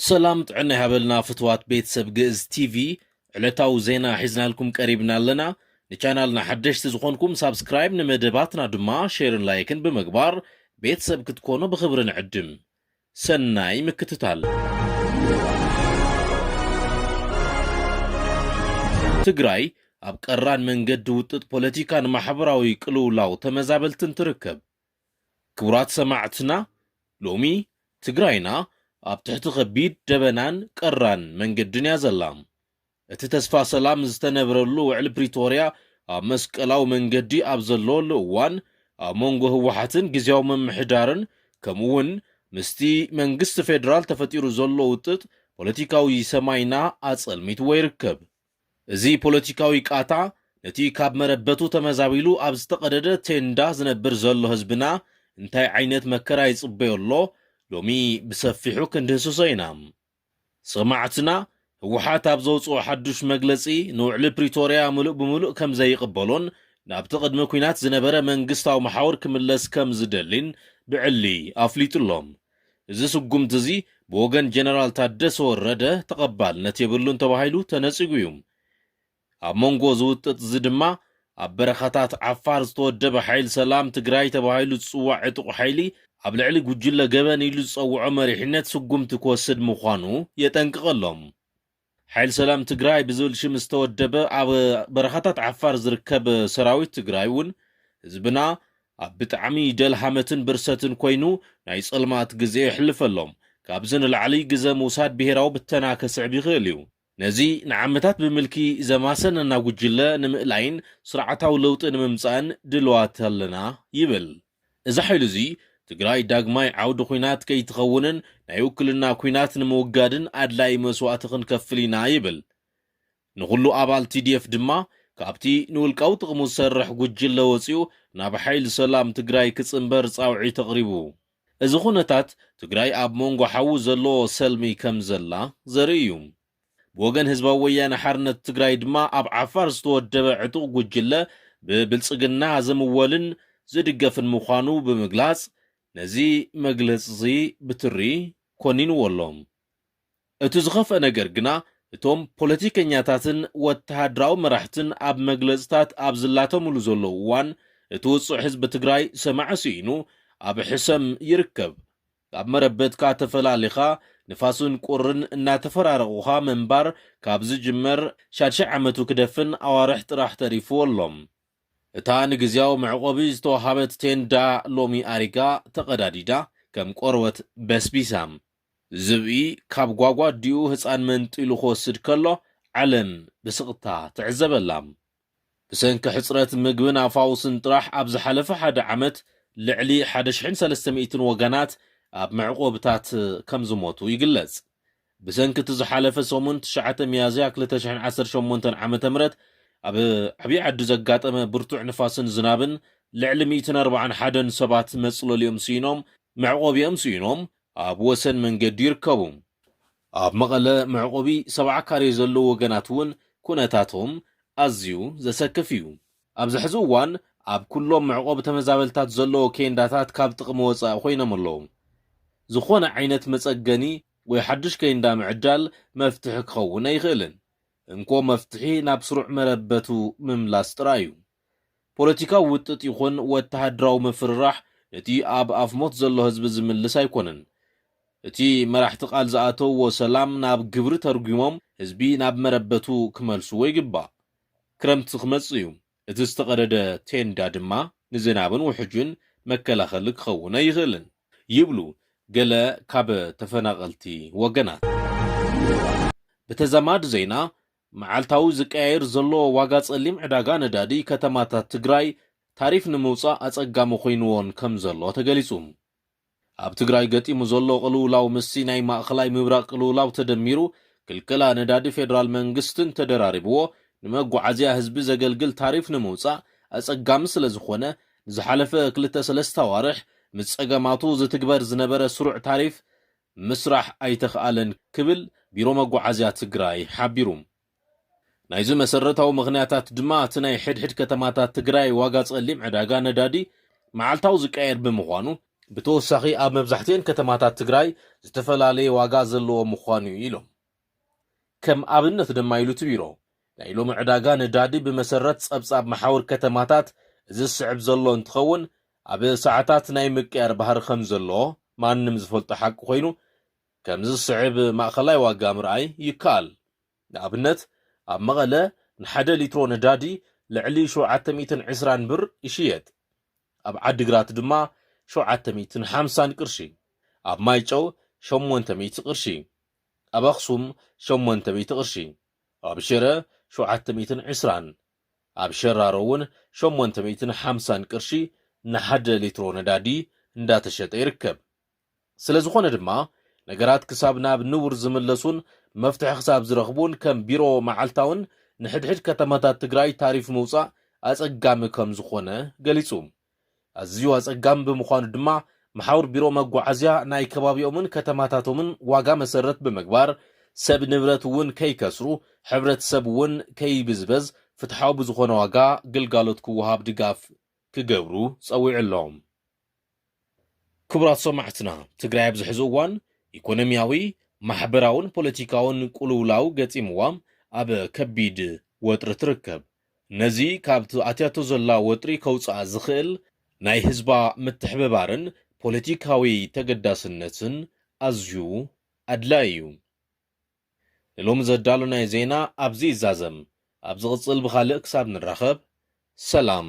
ሰላም ጥዕና ይሃበልና ፍትዋት ቤተሰብ ግእዝ ቲቪ ዕለታዊ ዜና ሒዝናልኩም ቀሪብና ኣለና ንቻናልና ሓደሽቲ ዝኾንኩም ሳብስክራይብ ንመደባትና ድማ ሼርን ላይክን ብምግባር ቤተሰብ ክትኮኑ ብኽብሪ ንዕድም ሰናይ ምክትታል! ትግራይ ኣብ ቀራን መንገዲ ውጥጥ ፖለቲካን ማሕበራዊ ቅልውላው ተመዛበልትን ትርከብ። ክቡራት ሰማዕትና ሎሚ ትግራይና ኣብ ትሕቲ ከቢድ ደበናን ቀራን መንገድን እያ ዘላ። እቲ ተስፋ ሰላም ዝተነብረሉ ውዕል ፕሪቶርያ ኣብ መስቀላዊ መንገዲ ኣብ ዘለወሉ እዋን ኣብ መንጎ ህወሓትን ግዝያዊ ምምሕዳርን ከምኡ እውን ምስቲ መንግስቲ ፌደራል ተፈጢሩ ዘሎ ውጥጥ ፖለቲካዊ ሰማይና ኣፀልሚትዎ ይርከብ። እዚ ፖለቲካዊ ቃታ ነቲ ካብ መረበቱ ተመዛቢሉ ኣብ ዝተቐደደ ቴንዳ ዝነብር ዘሎ ህዝብና እንታይ ዓይነት መከራ ይፅበዮ ኣሎ ሎሚ ብሰፊሑ ክንድህስሶ ኢና። ሰማዕትና፣ ህወሓት ኣብ ዘውጽኦ ሓዱሽ መግለጺ፣ ንውዕሊ ፕሪቶርያ ምሉእ ብምሉእ ከም ዘይቕበሎን ናብቲ ቅድሚ ኲናት ዝነበረ መንግስታዊ መሓውር ክምለስ ከም ዝደሊን ብዕሊ ኣፍሊጡ'ሎ። እዚ ስጉምቲ'ዚ ብወገን ጀነራል ታደሰ ወረደ ተቐባልነት የብሉን ተባሂሉ ተነጺጉ'ዩ። ኣብ መንጎ እዚ ውጥጥ እዚ ድማ ኣብ በረኻታት ዓፋር ዝተወደበ ሓይሊ ሰላም ትግራይ ተባሂሉ ዝፅዋዕ ዕጡቕ ሓይሊ ኣብ ልዕሊ ጉጅለ ገበን ኢሉ ዝፀውዖ መሪሕነት ስጉምቲ ክወስድ ምዃኑ የጠንቅቐሎም። ሓይሊ ሰላም ትግራይ ብዝብል ሽም ዝተወደበ ኣብ በረኻታት ዓፋር ዝርከብ ሰራዊት ትግራይ እውን ህዝብና ኣብ ብጣዕሚ ደልሃመትን ብርሰትን ኮይኑ ናይ ፀልማት ግዘ የሕልፈሎም ካብዚ ንላዕሊ ግዘ ምውሳድ ብሄራዊ ብተና ከስዕብ ይኽእል እዩ ነዚ ንዓመታት ብምልኪ ዘማሰነና ጉጅለ ንምእላይን ስርዓታዊ ለውጢ ንምምፃእን ድልዋት ኣለና ይብል። እዚ ሓይሊ እዚ ትግራይ ዳግማይ ዓውዲ ኹናት ከይትኸውንን ናይ ውክልና ኲናት ንምውጋድን ኣድላዪ መስዋእቲ ክንከፍል ኢና ይብል። ንኹሉ ኣባል tdf ድማ ካብቲ ንውልቃዊ ጥቕሙ ዝሰርሕ ጉጅለ ወፂኡ ናብ ሓይሊ ሰላም ትግራይ ክፅምበር ፃውዒት ኣቕሪቡ። እዚ ኩነታት፣ ትግራይ ኣብ ሞንጎ ሓዊ ዘለዎ ሰልሚ ከም ዘላ ዘርኢ እዩ። ብወገን ህዝባዊ ወያነ ሓርነት ትግራይ ድማ ኣብ ዓፋር ዝተወደበ ዕጡቕ ጉጅለ ብብልጽግና ዝምወልን ዝድገፍን ምዃኑ ብምግላጽ ነዚ መግለጺ'ዚ ብትሪ ኮኒንዎ ኣሎ። እቲ ዝኸፍኣ ነገር ግና እቶም ፖለቲከኛታትን ወተሃደራዊ መራሕትን ኣብ መግለፅታት ኣብ ዝላተምሉ ዘለዉ እዋን እቲ ውፁዕ ህዝቢ ትግራይ ሰማዒ ስኢኑ ኣብ ሕሰም ይርከብ። ካብ መረበትካ ተፈላሊኻ ንፋስን ቁርን እናተፈራረቑኻ ምንባር ካብ ዝጅመር ሻድሻይ ዓመቱ ክደፍን ኣዋርሕ ጥራሕ ተሪፉዎ ኣሎ። እታ ንግዝያዊ መዕቖቢ ዝተውሃበት ቴንዳ ሎሚ ኣሪጋ ተቐዳዲዳ ከም ቆርበት በስቢሳ። ዝብኢ ካብ ጓጓዲኡ ህጻን መንጢሉ ክወስድ ከሎ ዓለም ብስቕታ ትዕዘበላ። ብሰንኪ ሕጽረት ምግብን ኣፋውስን ጥራሕ ኣብ ዝሓለፈ ሓደ ዓመት ልዕሊ ሓደ ሽሕን ሰለስተ ሚእትን ወገናት ኣብ መዕቆብታት ከም ዝሞቱ ይግለጽ። ብሰንኪ እቲ ዝሓለፈ ሰሙን ትሽዓተ ሚያዝያ ክልተ ሽሕን ዓሰርተ ሸሞንተን ዓመተ ምህረት ኣብ ዓብይ ዓዲ ዘጋጠመ ብርቱዕ ንፋስን ዝናብን ልዕሊ ሚእትን ኣርባዓን ሓደን ሰባት መጽለሊኦም ስኢኖም መዕቆቢኦም ስኢኖም ኣብ ወሰን መንገዲ ይርከቡ። ኣብ መቐለ መዕቆቢ ሰብዓ ካሬ ዘለዉ ወገናት እውን ኩነታቶም ኣዝዩ ዘሰክፍ እዩ። ኣብዚ ሕዚ እዋን ኣብ ኩሎም መዕቆቢ ተመዛበልታት ዘለዉ ኬንዳታት ካብ ጥቕሚ ወፃኢ ኮይኖም ኣለዉ። ዝኾነ ዓይነት መፀገኒ ወይ ሓዱሽ ኬንዳ ምዕዳል መፍትሒ ክኸውን ኣይኽእልን። እንኮ መፍትሒ ናብ ስሩዕ መረበቱ ምምላስ ጥራይ እዩ። ፖለቲካዊ ውጥጥ ይኹን ወተሃደራዊ ምፍርራሕ ነቲ ኣብ ኣፍ ሞት ዘሎ ህዝቢ ዝምልስ ኣይኮነን። እቲ መራሕቲ ቃል ዝኣተውዎ ሰላም ናብ ግብሪ ተርጒሞም ህዝቢ ናብ መረበቱ ክመልስዎ ይግባእ። ክረምቲ ክመጽእ እዩ፣ እቲ ዝተቐደደ ቴንዳ ድማ ንዝናብን ውሕጅን መከላኸሊ ክኸውን ኣይኽእልን ይብሉ ገለ ካብ ተፈናቐልቲ ወገናት። ብተዛማዲ ዜና፣ መዓልታዊ ዝቀያየር ዘሎ ዋጋ ፀሊም ዕዳጋ ነዳዲ ከተማታት ትግራይ ታሪፍ ንምውፃእ ኣፀጋሚ ኮይኑዎን ከምዘሎ ተገሊፁ። ኣብ ትግራይ ገጢሙ ዘሎ ቅልውላው ምስቲ ናይ ማእኸላይ ምብራቕ ቅልውላው ተደሚሩ ክልከላ ነዳዲ ፌደራል መንግስትን ተደራሪቡዎ ንመጓዓዝያ ህዝቢ ዘገልግል ታሪፍ ንምውፃእ ኣፀጋሚ ስለዝኾነ ንዝሓለፈ ክልተ ሰለስተ ኣዋርሕ ምስ ፀገማቱ ዝትግበር ዝነበረ ስሩዕ ታሪፍ ምስራሕ ኣይተኽኣለን ክብል ቢሮ መጓዓዝያ ትግራይ ሓቢሩ። ናይዚ መሰረታዊ ምኽንያታት ድማ እቲ ናይ ሕድሕድ ከተማታት ትግራይ ዋጋ ፀሊም ዕዳጋ ነዳዲ መዓልታዊ ዝቀያየር ብምዃኑ፣ ብተወሳኺ ኣብ መብዛሕቲኤን ከተማታት ትግራይ ዝተፈላለየ ዋጋ ዘለዎ ምዃኑ እዩ ኢሎም። ከም ኣብነት ድማ ኢሉ እቲ ቢሮ፣ ናይ ሎሚ ዕዳጋ ነዳዲ ብመሰረት ፀብፃብ መሓውር ከተማታት እዚ ዝስዕብ ዘሎ እንትኸውን፣ ኣብ ሰዓታት ናይ ምቅያር ባህሪ ከምዘለዎ ማንም ዝፈልጦ ሓቂ ኮይኑ፣ ከምዚ ዝስዕብ ማእኸላይ ዋጋ ምርኣይ ይከኣል። ንኣብነት ኣብ መቐለ ንሓደ ሊትሮ ነዳዲ ልዕሊ ሸውዓተ ሚእትን ዕስራን ብር ይሽየጥ። ኣብ ዓዲግራት ድማ ሸውዓተ ሚእትን ሓምሳን ቅርሺ። ኣብ ማይጨው ሸሞንተ ሚእቲ ቅርሺ። ኣብ ኣኽሱም ሸሞንተ ሚእቲ ቅርሺ። ኣብ ሽረ ሸውዓተ ሚእትን ዕስራን። ኣብ ሸራሮ እውን ሸሞንተ ሚእትን ሓምሳን ቅርሺ ንሓደ ሊትሮ ነዳዲ እንዳተሸጠ ይርከብ። ስለዝኾነ ድማ ነገራት ክሳብ ናብ ንቡር ዝምለሱን መፍትሒ ክሳብ ዝረኽቡን ከም ቢሮ መዓልታውን ንሕድሕድ ከተማታት ትግራይ ታሪፍ ምውፃእ ኣፀጋሚ ከምዝኾነ ገሊፁ። ኣዝዩ ኣጸጋሚ ብምዃኑ ድማ መሓውር ቢሮ መጓዓዝያ ናይ ከባቢኦምን ከተማታቶምን ዋጋ መሰረት ብምግባር ሰብ ንብረት እውን ከይከስሩ ሕብረተሰብ እውን ከይብዝበዝ ፍትሓዊ ብዝኾነ ዋጋ ግልጋሎት ክወሃብ ድጋፍ ክገብሩ ጸዊዑ ኣሎ። ክቡራት ሰማዕትና ትግራይ ኣብዚ ሕዚ እዋን ኢኮኖሚያዊ፣ ማሕበራውን ፖለቲካውን ቁልውላው ገጢምዋ ኣብ ከቢድ ወጥሪ ትርከብ። ነዚ ካብቲ ኣትያቶ ዘላ ወጥሪ ከውጽኣ ዝኽእል ናይ ህዝባ ምትሕብባርን ፖለቲካዊ ተገዳስነትን ኣዝዩ ኣድላዪ እዩ። ንሎሚ ዘዳሎናዮ ዜና ኣብዚ ይዛዘም። ኣብ ዝቕጽል ብኻልእ ክሳብ ንራኸብ ሰላም።